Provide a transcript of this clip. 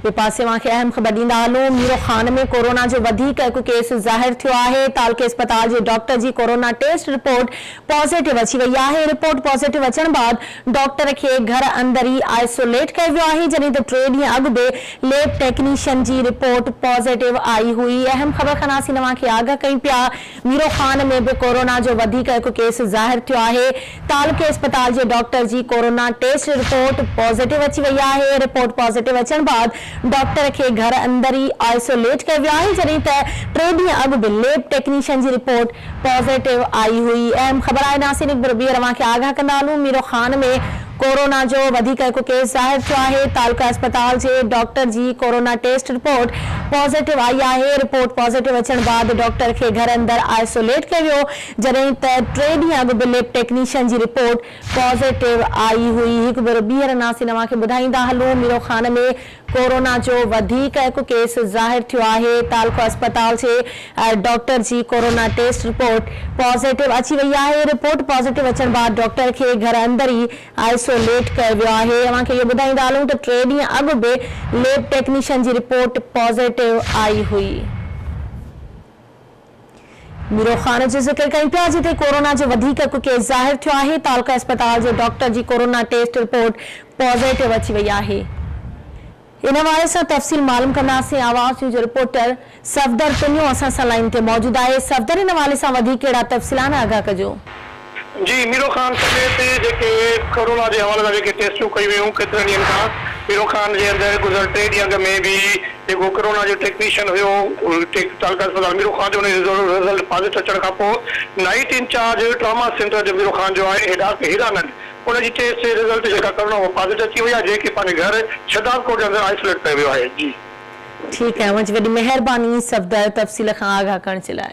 ٻئي پاسي اوهان کي اهم خبر ڏيندا هلون ميرو خان ۾ ڪورونا جو وڌيڪ هڪ ڪيس ظاهر ٿيو آهي، تعلقي اسپتال جي ڊاڪٽر جي ڪورونا ٽيسٽ رپورٽ پازيٽو اچي وئي آهي، رپورٽ پازيٽو اچڻ بعد ڊاڪٽر کي گهر اندر ئي آئسوليٽ ڪيو ويو آهي، جڏهن ته ٽي ڏينهن اڳ به ليب ٽيڪنيشن جي رپورٽ پازيٽو آئي هئي، اهم خبر خناسين اوهان کي آگاهه ڪيون پيا. ميرو خان ۾ به ڪورونا جو وڌيڪ هڪ ڪيس ظاهر ٿيو آهي، تعلقي اسپتال جي ڊاڪٽر جي ڪورونا ٽيسٽ رپورٽ پازيٽو اچي وئي آهي، رپورٽ پازيٽو اچڻ بعد ڊاڪٽر کي گهر اندر ئي آئسوليٽ ڪيو ويو آهي، جڏهن ته ٽي ڏينهن اڳ به ليب ٽيڪنيشن جي رپورٽ پازيٽو آئي هئي، اهم خبر آهي ناسين اڪبر ٻيهر اوهان کي آگاهه ڪندا هلون، ميرو خان ۾ ڪورونا جو وڌيڪ هڪ ڪيس ظاهر ٿيو آهي، تعلقه اسپتال جي ڊاڪٽر جي ڪورونا ٽيسٽ رپورٽ پازيٽو آئي آهي، رپورٽ پازيٽو اچڻ بعد ڊاڪٽر کي گهر اندر آئسوليٽ ڪيو ويو، جڏهن ته ٽي ڏينهن اڳ به ليب ٽيڪنيشن جي رپورٽ پازيٽو آئي هئي. هڪ ڀيرو ٻيهر ناسينوا کي ٻڌائيندا هلون، ميرو خان ۾ ڪورونا جو وڌيڪ هڪ ڪيس ظاهر ٿيو آهي، تعلقه اسپتال جي ڊاڪٽر جي ڪورونا ٽيسٽ رپورٽ پازيٽو اچي وئي آهي، رپورٽ پازيٽو اچڻ بعد ڊاڪٽر کي گهر اندر ئي آئسوليٽ ڪيو ويو آهي، اوهان کي اهو ٻڌائيندا هلون ته ٽي ڏينهن اڳ به ليب ٽيڪنيشن جي رپورٽ پازيٽو آئي هئي. ميرو خان جي ذڪر ڪيون پيا جتي ڪورونا جو وڌيڪ ڪو ڪيس ظاهر ٿيو آهي تعلقه اسپتال جي ڊاڪٽر جي ڪورونا ٽيسٽ رپورٽ پازيٽو اچي وئي آهي ان حوالي سان تفصيل معلوم ڪنداسين آواز نيوز جي رپورٽر صفدر پنيو اسان سان لائين تي موجود آهي صفدر ان حوالي سان وڌيڪ ڪهڙا تفصيل آهن آگاهه ڪجو. جي ميرو خان سميت جيڪي ڪورونا جي حوالي سان جيڪي ٽيسٽون ڪيون ويون ڪيترن ڏينهن کان ميرو خان جي اندر گذريل ٽي ڏينهن اڳ ۾ به جيڪو ڪورونا جو ٽيڪنيشن هيو تعلقه اسپتال ميرو خان جو ان جو رزلٽ پازيٽو اچڻ کان پوء نائيٽ انچارج ٽراما سينٽر جو ميرو خان جو آهي ڊاڪٽر هيرانند ان جي ٽيسٽ جي رزلٽ جيڪا ڪورونا اها پازيٽو اچي وئي آهي جنهن کي پنهنجي گهر شھداد ڪوٽ جي اندر آئسوليٽ ڪيو ويو آهي جي. ٺيڪ آهي اوهان جي وڏي مهرباني صفدر تفصيل کان آگاهه ڪرڻ جي لاء.